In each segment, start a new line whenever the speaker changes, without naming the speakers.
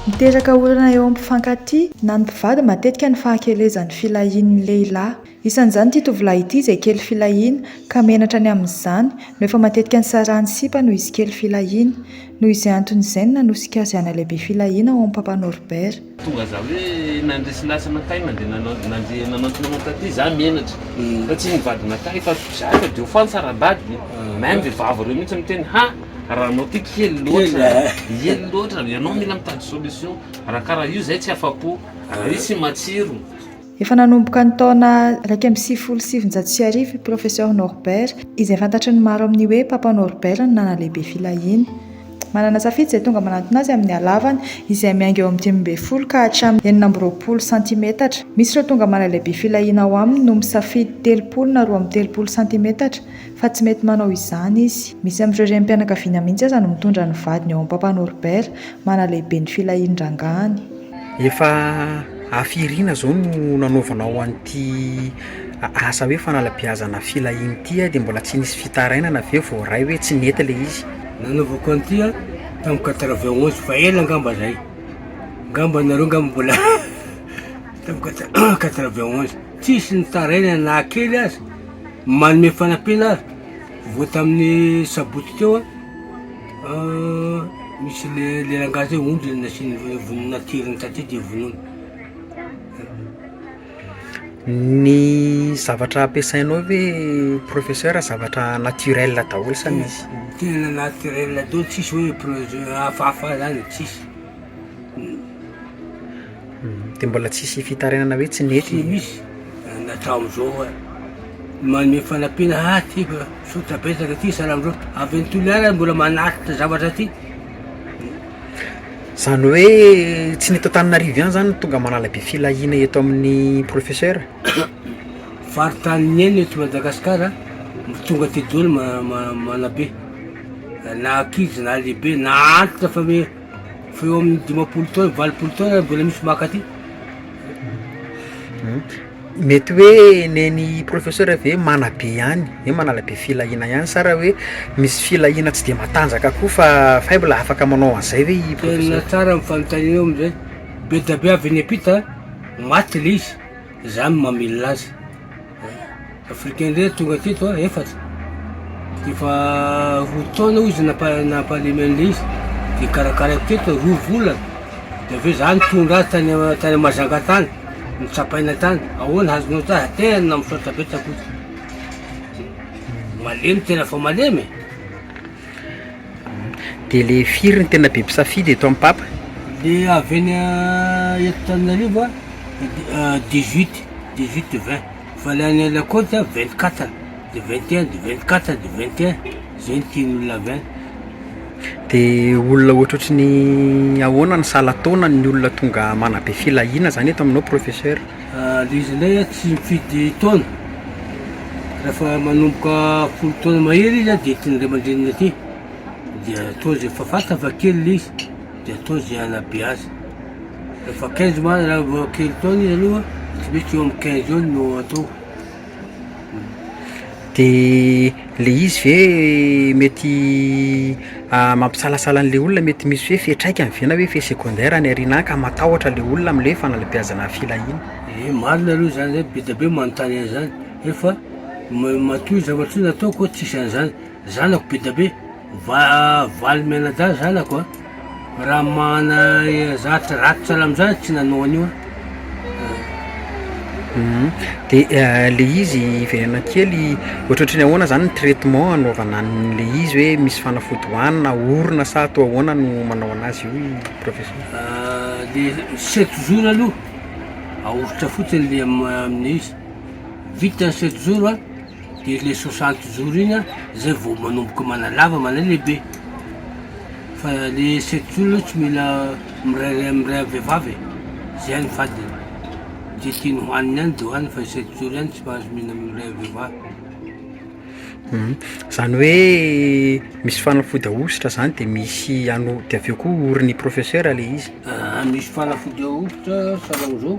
Miteraka olana eo amin'ny mpifankatia na ny mpivady matetika ny fahakelezan'ny filahian'ny lehilahy. Isan'izany ity tovolahy ity izay kely filahiana ka menatra ny amin'izany no efa matetika nisarahany sipa noho izy kely filahiana. Noho izay antony izay no nanosika azy hanalehibe filahiana ao amin'ny Papa Norbert. Tonga za hoe
nandre sy lasa nankay nande nandre nanantona anao taty za menatra fa tsy ny vady nankay fa za efa de ho fantsa ra bady e même le vava reo mintsy miteny ha ra anao ty kely loatra ely loatra ianao mila mitady solution ra kara io zay tsy afapo ra io tsy matsiro Efa nanomboka
ny taona iraika amby sivifolo sy sivinjato sy arivo i Professeur Norbert, izay fantatry ny maro amin'ny hoe Papa Norbert no nanalehibe filahiana. Manana safidy izay tonga manantona azy amin'ny halavany, izay miainga eo amin'ny dimy ambin'ny folo ka hatramin'ny enina amby roapolo santimetatra. Misy ireo tonga manalehibe filahiana ao aminy no misafidy telopolo na roa amby telopolo santimetatra, fa tsy mety manao izany izy. Misy amin'ireo renim-pianakaviana mihitsy aza no mitondra ny vadiny eo amin'ny Papa Norbert, manalehibe ny filahian-drangahiny. Efa
afy irina zao no nanaovanao an'ity asa hoe fanalabeazana filahiana ity dia mbola tsy nisy fitarainana ve vao ray hoe tsy nety ilay izy? Nanaovako an'ity
an tamin'ny quatre vingt onze fa ela angamba zay, angamba nareo angamba mbola tamin'ny quatre quatre vingt onze tsisy nitarainana na kely aza manome fanampiana aza vao tamin'ny sabotsy teo an. Misy le le rangahy zay ondry ny nasiany vonoiny natirin taty de vonoiny.
Ny zavatra ampiasainao ve professeur zavatra naturel daholo sa misy? Tena naturel
daholo tsisy hoe projet hafahafa zany tsisy.
Dia mbola tsisy fitarainana hoe tsy nety. Tsy misy
na hatramin'izao ary. Manome fanampiana ha ty fa tsotra betsaka ty salamalou. Avy any Toliara ary mbola manaritra zavatra ty.
Zany hoe tsy ny eto Antananarivo ihany zany no tonga manala be filahiana eto amin'ny professeur?
Faritany niaina eto Madagasikara no tonga aty daholo ma- ma- manabe. Na ankizy na lehibe, na antitra fa hoe. fa eo amin'ny dimampolo taona, valopolo taona ary mbola misy maka aty.
Mety hoe nen'i professeur ve manabe ihany, hoe manala be filahiana ihany sa raha hoe misy filahiana tsy dia matanjaka koa fa faible afaka manao an'izay ve i professeur? Tena tsara ny fanontanianao
amin'izay, be dia be avy any am-pita maty ilay izy. Za no mamilina azy. Africain indray no tonga teto an, efatra. Efa roa taona hoy izy nampa- nampalemy an'ilay izy, dia karakaraiko teto roa volana. Dia avy eo za nitondra azy tany a- tany Mahajanga tany, notsapaina tany. Ahoana azonao ta- tena misaotra betsaka hoy izy. Malemy tena fa malemy e!
Dia le firy no tena be mpisafidy eto am papa? Le avy eny
eto Tananarivo dix huit dix huit vingt fa le any la cote a vingt quatre de vingt et un de vingt quatre de vingt et un zay no tian'olona avy any. De
olona ohatrohatry ny ahoana no sahala taona ny olona tonga manabe filahiana zany eto aminao professeur? Ilay izy indray
an tsy mifidy taona, rehefa manomboka folo taona mahery izy an dia tian'ny ray aman-dreniny aty, dia atao izay efa fantany fa kely ilay izy dia atao izay hanabe azy, rehefa quinze mois raha vao kely taona izy aloha, tsy maintsy eo amin'ny quinze eo no atao.
De le izy ve mety mampisalasala an'le olona mety misy hoe fiatraikany ve na hoe effet secondaire any aoriana any ka matahotra le olona am'le fanalebiazana filahiana? Ie marina aloha
zany zay, be dia be manontany an'zany nefa matoa zavatra io nataoko tsisy an'zany, zanako be dia be. Va valy mianadahy zanako a! Raha mana zavatra raty sahala amin'izany tsy nanao an'io aho.
De le izy hiverena kely ohatrohatry ny ahoana zany ny traitement anaovana an'le izy hoe misy fanafody hohanina na orona sa atao ahoana no manao anazy io professeur? Le
sept jours aloha aoritra fotsiny le am- am'le izy, vita ny sept jours a. Dia ilay soixante jours iny an, zay vao manomboka manalava, manalehibe. Fa le sept jours aloha tsy mila mirairay amin'ilay ray vehivavy e. Zay ihany fadiny. Ze tiany hohaniny ihany de hohaniny fa sept jours ihany tsy mahazo mihinana amin'ny ray vehivavy.
Zany hoe misy fanafody ahosotra zany de misy ano- de avy eo koa orin'ny professeur le izy? Aah, misy fanafody
ahosotra salan'izao.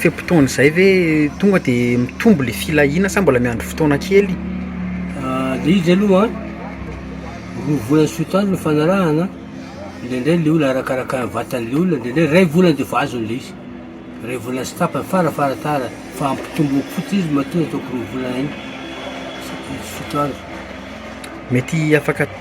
Fe-potoana izay ve tonga de mitombo le filahiana sa mbola miandry fotoana kely?
De izy aloha roa volana sy roa taona no fanarahana, indraindray le olona arakaraka ny vatan'le olona, indraindray ray volana de efa azony le izy, ray volana sy tapany fara fara tara, fa ampitomboy fotsiny izy matoa ataoko roa volana iny, sy roa taona.
Mety afaka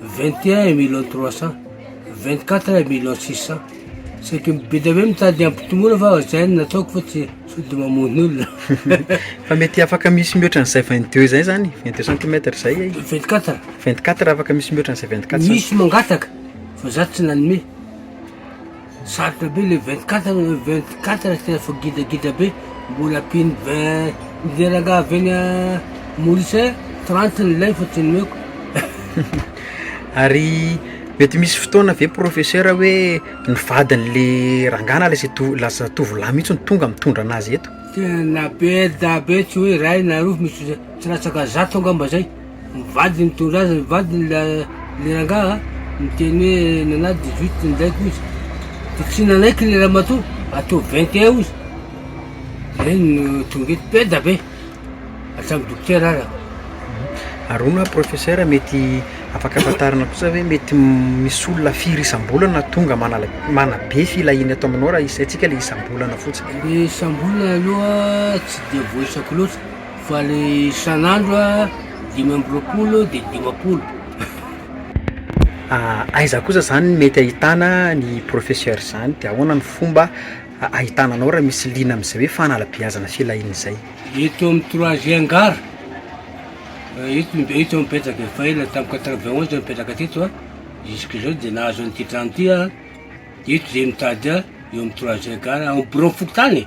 Vingt et un et millions trois cent, vingt quatre et millions six cent, saika mibidy eo mitady hampitomboina fa zay no nataoko fa tsy sao dia mamono olona. Fa mety
afaka misy mihoatra an'izay vingt deux zay zany, vingt deux centimètres zay e. Vingt quatre. Vingt quatre afaka misy mihoatra an'izay vingt quatre. Misy mangataka
fa za tsy nanome. Sarotra be le vingt quatre le vingt quatre tsy tena fa gidragidra be mbola ampino vingt ny le rangah avy any Maurice any trente ny lay fa tsy nomeko Ary
mety misy fotoana ve professeur hoe ny vadin'le rangah na lasa to- lasa tovolahy mihitsy no tonga mitondra anazy eto? Tena be
dabe tsy hoe ray na roa fa misy tsy latsaka zato angamba zay. Ny vadiny nitondra azy ny vadiny ilay rangahy niteny hoe nana 18 ny zaiko izy dia tsy nanaiky ilay ramatoa ataovy 21 hozy zay no tonga eto peda be hatramin'ny dokotera aza Ary
hono professeur mety afaka afantarana kosa hoe mety misy olona firy isam-bolana tonga manala manabe filahiana eto aminao raha isaintsika ilay isam-bolana fotsiny? Ilay isam-bolana
aloha tsy dia voaisako loatra Fa le isan'andro a dimy amby roapolo de dimampolo.
Aiza kosa zany ny mety ahitana ny professeur zany de ahoana ny fomba ahitana anao raha misy liana am'zay hoe fanalabeazana filahiana zay? Eto amin'ny
troisième gare, eto ny be- eto aho mipetraka e, fa ela tamin'ny quatre vingt onze aho nipetraka teto a, jusk'izao de nahazo an'ity trano ty aho, eto zay mitady ahy, eo amin'ny troisième gare, ao am-biraon'ny fokontany e.